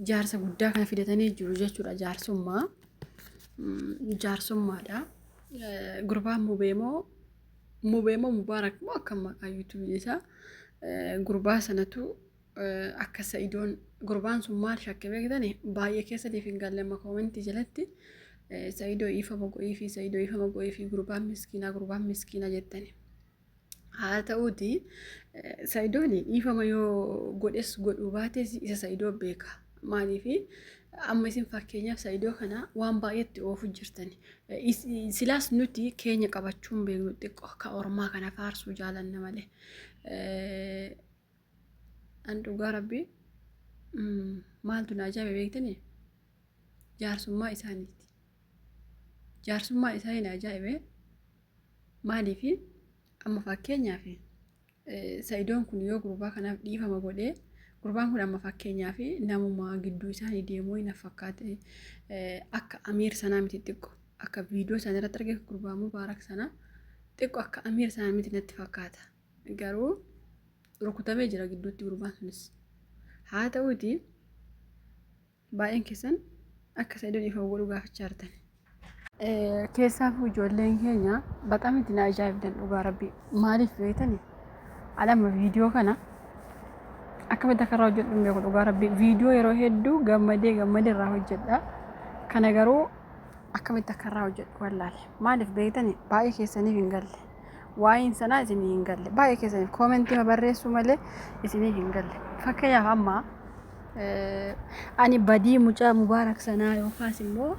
jaarsa guddaa kana fidatanii jiru jechuudha jaarsummaa jaarsummaadha gurbaan mubeemoo mubeemoo mubaarak moo akka maqaa yuutuubiin isaa gurbaa sanatu akka sa'idoon gurbaan sun maal shakke beektani baay'ee keessatiif hin galle amma koomentii jalatti sa'idoo iifama go'iifi sa'idoo iifama go'iifi gurbaan miskiinaa gurbaan miskiinaa jettani Haa ta'uuti Sa'idoon dhiifama yoo godhes godhuu baates isa Sa'idoo beeka. Maaliif amma isin fakkeenyaaf Sa'idoo kana waan baay'eetti oofu jirtani. Is- Silaas nuti keenya qabachuun beeknu xiqqoo ka ormaa kana faarsuu jaalanna malee. Eh, An dhugaa rabbii mm, maaltu na ajaa'ibe beektanii? Jaarsummaa isaaniiti. Jaarsummaa isaanii na ajaa'ibe. Maaliif amma fakkeenyaaf sa'idoon kun yoo gurbaa kanaaf dhiifama godhee gurbaan kun amma fakkeenyaaf namuma gidduu isaanii deemuu hin fakkaate akka amiir sanaa miti xiqqo akka viidiyoo isaanii irratti argee gurbaa mubaarak sanaa xiqqo akka amiir sanaa miti natti fakkaata garuu rukutamee jira gidduutti gurbaan sunis haa ta'uuti Baay'een keessan akka Sa'idoon dhiifama godhu gaafachaa jirtan. Keessaafuu ijoolleen keenya baqam itti na ajaa'ibdan dhugaa rabbii maaliif beektani alama viidiyoo kana akkamitti akka irraa hojjedhu hin beeku dhugaa rabbii viidiyoo yeroo hedduu gammadee gammadee irraa hojjedha kana garuu akkamitti akka irraa hojjedhu wallaale maaliif beektani baay'ee keessaniif hin galle. waa'een sanaa isinii hin galle baay'ee keessaniif koomentii barreessuu malee isinii hin galle fakkeenyaaf amma ani badii mucaa mubaarak sanaa yookaas immoo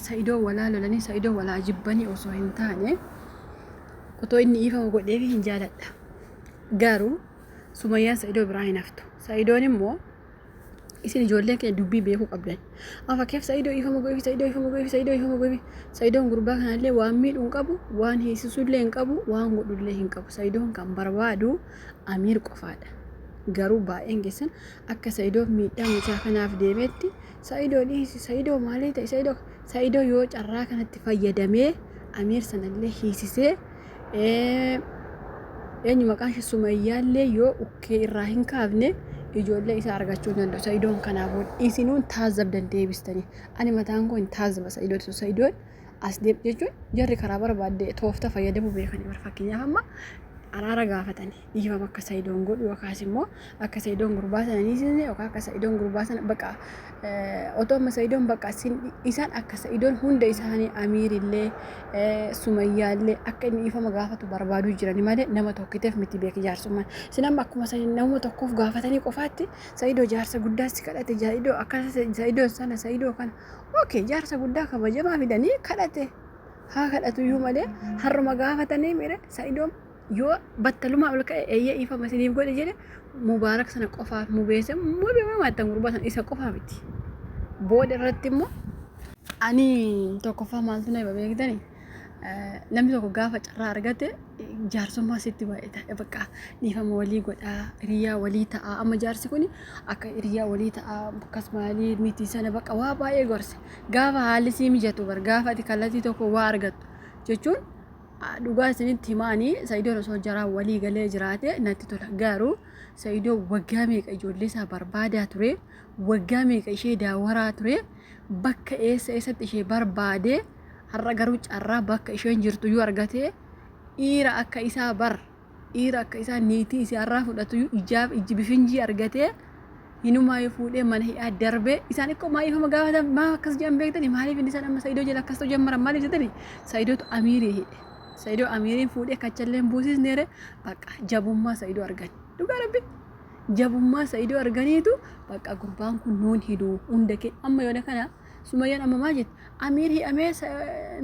sa'idoo walaa lolanii sa'idoo walaa jibbanii osoo hin taane otoo inni iifama godheef hin jaaladha garuu sumayyaan sa'idoo biraa hin haftu sa'idoon immoo Isin ijoollee kee dubbii beekuu qabdan. Afa keef Sa'idoo ifama godhifi Sa'idoo ifama godhifi Sa'idoo ifama godhifi. Sa'idoon gurbaa kanallee waan miidhu hin qabu, waan hiisisullee hin qabu, waan godhullee hin qabu. Sa'idoon kan barbaadu Amiir qofaadha. Garuu baay'een keessan akka Sa'idoo miidhaa mucaa kanaaf deemeetti Sa'idoo dhiisi sa'idoo maalii ta'e sa'idoo sa'idoo yoo carraa kanatti fayyadamee amiir sanallee hiisisee eenyu maqaan ishee sumayyaallee yoo ukkee irraa hin kaafne ijoollee isaa argachuu hin danda'u sa'idoon kanaafuu isinuun taazabdan deebistanii ani mataan koo hin taazaba sa'idoo dhiisu sa'idoon as deeb jechuun jarri karaa barbaadde toofta fayyadamuu beekanii bar fakkeenyaaf amma araara gaafatanii dhiifama akka sayidoon godhu yookaas immoo akka sayidoon gurbaa sana ni sisne yookaan akka sayidoon gurbaa sana baqa otoo amma sayidoon baqa isaan akka sayidoon hunda isaanii amiirillee sumayyaallee akka inni dhiifama gaafatu barbaaduu jirani malee nama tokkiteef miti beeki jaarsummaan isin amma akkuma nama tokkoof gaafatanii qofaatti sayidoo jaarsa guddaa si kadhate sayidoo akka sayidoo sana sayidoo kana ookee jaarsa guddaa kabajamaa fidanii kadhate haa kadhatu iyyuu malee harruma gaafatanii mire sayidoon yoo battalumaa ol ka'e eeyyee dhiifama isiniif godhe jedhe mubaarak sana qofaaf mubeesse mubeemaa maattan gurbaa sana isa qofaa miti booda irratti immoo ani tokkoffaa maaltu na hiba beektani namni tokko gaafa carraa argate jaarsummaa sitti baay'ata bakka dhiifama walii godhaa hiriyaa walii ta'aa amma jaarsi kun akka hiriyaa walii ta'aa akkas maalii miti sana bakka waa baay'ee gorse gaafa haalli sii mijatu bar gaafa ati kallattii tokko waa argattu jechuun dhugaa isinitti himaanii Sa'idoon osoo jaraan walii galee jiraate natti tola garuu Sa'idoo waggaa meeqa ijoollee isaa barbaadaa ture waggaa meeqa ishee daawaraa ture bakka eessa eessatti ishee barbaade har'a garuu carraa bakka isheen jirtu yoo argate dhiira akka isaa bar Dhiira akka isaa niitii isii har'aa fudhatuyu ijaaf ijji bifinjii argatee hinumaayuu fuudhee mana hidhaa darbee isaan ikkoo maaliif amma gaafatan maa akkas jedhan beektani maaliif inni isaan amma Saidoo jala akkas ta'u jammaran maaliif jetani Saidootu amiirii hidhe Saidoo amiiriin fuudhee kachalleen buusisneere bakka jabummaa Saidoo argan dhugaa rabbi jabummaa Saidoo arganiitu bakka gurbaan kun nuun hiduu hunda kee amma yoona kana Sumayyaan amma maal jette? Amiir hidhamee sa-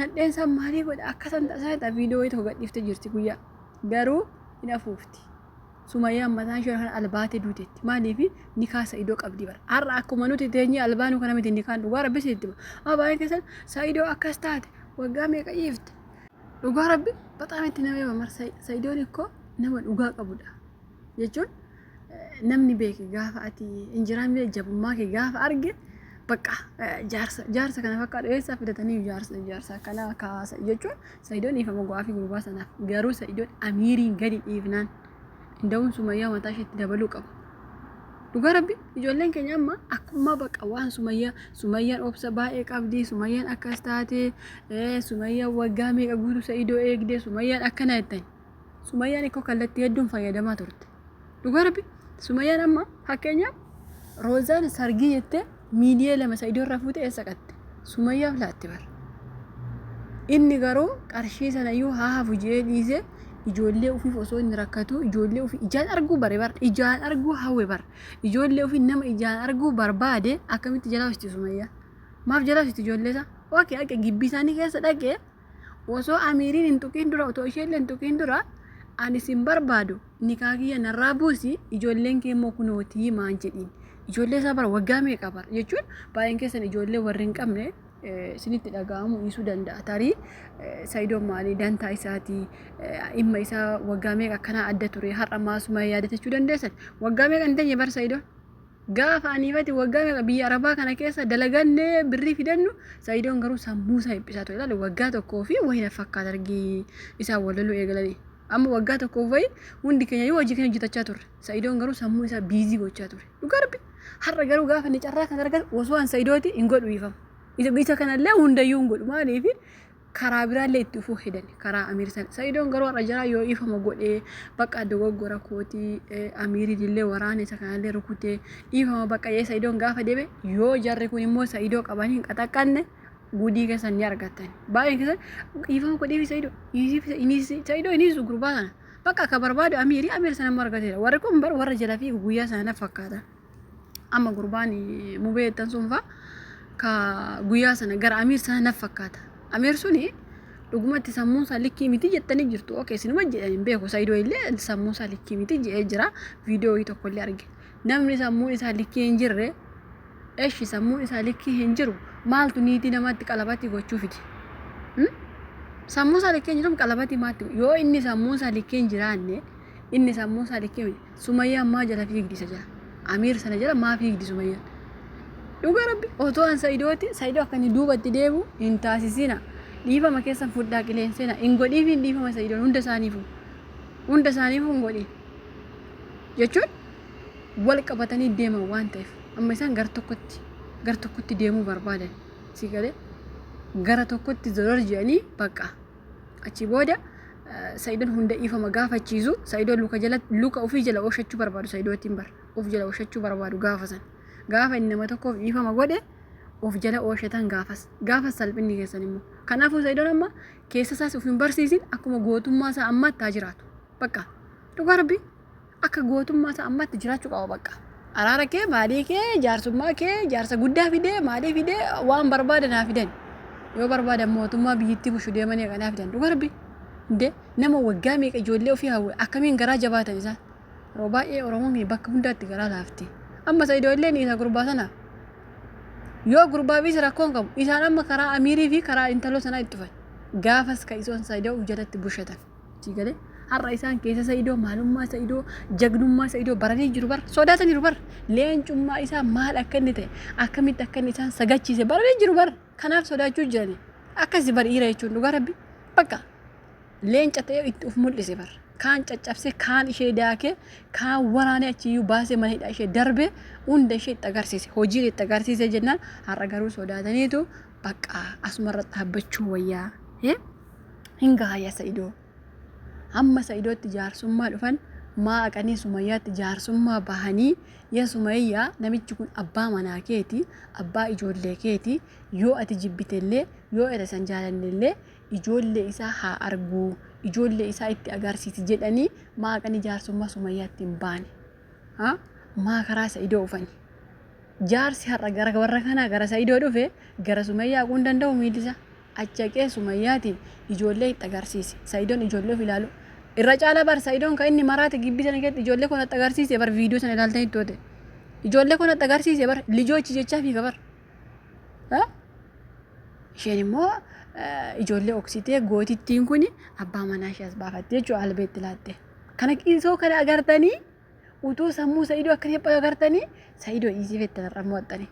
nadheen isaa maalii godha? Akka san ta'a sana ta'a viidiyoo wayii tokko gadhiiftee jirti guyyaa. Garuu hin afuufti. Sumayyaan mataan ishee kan albaatee duuteetti. Maaliif nikaa sa'idoo qabdi bara. Har'a akkuma nuti teenyee albaanuu kana miti nikaan dhugaa rabbi sitti hima. Amma baay'een keessan sa'idoo akkas taate waggaa meeqa dhiifte? Dhugaa rabbi baxaam itti nama hima mar sa'idoon ikkoo nama dhugaa qabudha. jechuun namni beeke gaafa ati injiraan biyya jabummaa kee gaafa arge bakka jaarsa jaarsa kana bakka dheessaa fidatanii jaarsa jaarsa akkanaa akka haasa jechuun sayidoon dhiifama go'aa fi gurbaa sanaaf garuu sayidoon amiiriin gadi dhiifnaan inda'uun sumayyaa mataa isheetti dabaluu qaba. Dhugaa rabbi ijoolleen keenya amma akkuma bakka waan sumayyaa sumayyaan obsa baay'ee qabdi sumayyaan akkas taate sumayyaan waggaa meeqa guutuu sa'idoo eegde sumayyaan akkana jettan Sumayyaan ikkoo kallattii hedduun fayyadamaa turte. Dhugaa rabbi Sumayyaan amma fakkeenyaaf Roozaan sargii jettee miiliyee lama isa idoorraa fuute eessa qatte? Sumayyaaf laatte bara. Inni garuu qarshii sana iyyuu haa hafu jedhee dhiisee ijoollee ofiif osoo inni rakkatu ijoollee ofii ijaan arguu bare bara ijaan arguu hawwe bara ijoollee ofii nama ijaan arguu barbaade akkamitti jalaa hojjeti Sumayyaa? Maaf jalaa hojjeti ijoollee isaa? Ookee akka gibbii isaanii keessa dhaqee Osoo Amiiriin hin tuqiin dura, otoo isheellee hin tuqiin dura ani sin barbaadu nikaa kiyya narraa buusi ijoolleen kee immoo kunootii maan jedhiin. Ijoollee isaa bara waggaa meeqa bara jechuun baay'een keessan ijoollee warri hin qabne eh, isinitti dhaga'amu dhiisuu danda'a. Tarii eh, Sayidoon maalii dantaa isaatii eh, dhimma isaa waggaa meeqa akkanaa adda ture har'a maasuma yaadatachuu dandeessan. Waggaa meeqa hin teenye bara Sayidoon? Gaafa anii fati waggaa meeqa biyya arabaa kana keessa dalaganne birrii fidannu sa'idoon garuu sammuu isaa hiphisaa ture ilaali waggaa tokkoo fi wayi na fakkaata argii isaan walaluu eegalanii amma waggaa tokkoof wayi hundi keenya yoo hojii keenya hojjetachaa turre sa'idoon garuu sammuu isaa biizii gochaa ture dhugaa rabbi har'a garuu gaafa inni carraa kana argatu osoo an sa'idooti hin godhu ifama isa isa kanallee hundayyuu hin godhu maaliif karaa biraallee itti dhufuu hedan karaa amiir san sa'idoon garuu har'a jaraa yoo dhiifama godhe bakka dogoggora kooti amiiriin illee waraana isa kanallee rukute dhiifama bakka jee sa'idoon gaafa deeme yoo jarri kun immoo sa'idoo qaban hin qaxaqqanne gudii keessan ni argattan baay'een keessan dhiifama godheefi sa'idoo dhiisiifi iniisi sa'idoo iniisu gurbaa sana bakka akka barbaadu amiiri amiir sana immoo argateera warri kun bar warra jala fi guyyaa sana fakkaata. Amma gurbaan mubee jettan sun faa ka guyyaa sana gara Amiir sana naf fakkaata. Amiir suni dhugumatti sammuun isaa likkii miti jettanii jirtu. Okee isinuma jedhan hin beeku Saidoo illee sammuun isaa likkii miti jedhee jira. Viidiyoo wayii tokko illee arge. Namni sammuun isaa likkii hin jirre eshi sammuun isaa likkii hin jiru maaltu niitii namaatti qalabatii gochuu fide. Hmm? Sammuun isaa likkii hin jiru qalabatii maatti yoo inni sammuun isaa likkii hin jiraanne inni sammuun isaa likkii miti. Sumayyaan maa jala fiigdi isa jala? Amiir sana jala maa fiigdi Sumayyaan? Dhuga rabbi otoo an sa'idooti sa'idoo akka inni duubatti deebu hin taasisina. Dhiifama keessan fudhaa qileenseena hin godhiif hin dhiifama sa'idoon hunda isaaniifu. Hunda isaaniifu hin godhiif. Jechuun wal qabatanii deeman waan ta'eef amma isaan gara tokkotti gara tokkotti deemuu barbaadan si galee gara tokkotti zorar jedhanii bakka Achii booda Sa'idoon hunda dhiifama gaafachiisu. Sa'idoon luka jala luka ofii jala oshachuu barbaadu Sa'idootiin bar of jala oshachuu barbaadu gaafa san. Gaafa inni nama tokkoof dhiifama godhe of jala ooshetan gaafas gaafas salphinni keessan immoo. Kanaafuu Sa'idoon amma keessa isaas of hin barsiisin akkuma gootummaa isaa ammaatti haa jiraatu. Bakka dhugaa rabbii. Akka gootummaa isaa ammatti jiraachuu qaba baqqa. Araara kee, maalii kee, jaarsummaa kee, jaarsa guddaa fidee, maalii fidee, waan barbaadan haa fidan. Yoo barbaadan mootummaa biyyittii bushu deemanii haqanii haa fidan. Dhuga rabbi. De nama waggaa meeqa ijoollee ofii hawwe akkamiin garaa jabaatan isaan. Yeroo baay'ee Oromoon keenya bakka hundaatti garaa laafti. Amma isa idoolleen isa gurbaa sana. Yoo gurbaaf isa rakkoon qabu isaan amma karaa amiirii fi karaa intaloo sanaa itti dhufan. Gaafas ka isoon isaa ida'uuf jalatti bushatan. Sii galee har'a isaan keessa Sa'idoo maalummaa Sa'idoo jagnummaa Sa'idoo baranii jiru bar sodaataniiru bar leencummaa isaa maal akka inni ta'e akkamitti akka inni isaan sagachiise baranii jiru bar kanaaf sodaachuu jirani akkasi bar dhiira jechuun dhugaa rabbi bakka leenca ta'ee itti of mul'ise bar kaan caccabse kaan ishee daakee kaan waraanee achiyyuu baasee mana hidhaa ishee darbee hunda ishee itti agarsiise hojiin itti agarsiise jennaan har'a garuu sodaataniitu Baqqa asumarra dhaabbachuu wayyaa. Hee? Hin gaha yaa Sa'idoo. Amma Sa'idootti jaarsummaa dhufan maa aqanii Sumayyaatti jaarsummaa bahanii yaa Sumayyaa namichi kun abbaa manaa keeti, abbaa ijoollee keeti, yoo ati jibbitellee, yoo ati san jaalannellee ijoollee isaa haa arguu, ijoollee isaa itti agarsiisi jedhanii maa aqanii jaarsummaa Sumayyaatti hin baane. Ha? Maa karaa Sa'idoo ufani? Jaarsi har'a gara warra kanaa gara Sa'idoo dhufe gara Sumayyaa haquu hin danda'u miilli isaa. Achi haqee Sumayyaatiin ijoollee itti agarsiise. Sa'idoon ijoollee ofii ilaalu. Irra caalaa bar Sa'idoon kan inni maraate gibbii sana keessatti ijoollee koo natti agarsiise bar viidiyoo sana ilaaltee hin toote. Ijoollee koo natti agarsiise bar lijoochi jechaa fiiga bar. Ha? Isheen immoo eh, ijoollee oksitee gootittiin kun abbaa manaa ishee as baafatte jechuudha albeetti laatte. Kana qiisoo kana agartanii Utuu sammuu Sa'idoo akka hin agartanii Sa'idoo dhiisii fette har'a mo'attanii.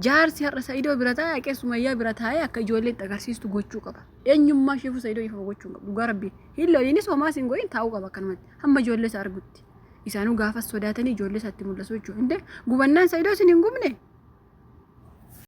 Jaarsi har'a Sa'idoo bira taa'e haqee Sumayyaa bira taa'e akka ijoollee itti agarsiistu gochuu qaba. Eenyummaa isheefuu Sa'idoo ifa gochuu hin qabu. Dhugaa rabbi hin loliinis homaa siin godhin taa'uu qaba akkanumatti. Hamma ijoollee isaa argutti. Isaanuu gaafas sodaatanii ijoollee isaatti mul'asu jechuudha. Indee gubannaan Sa'idoo isin hin gubne.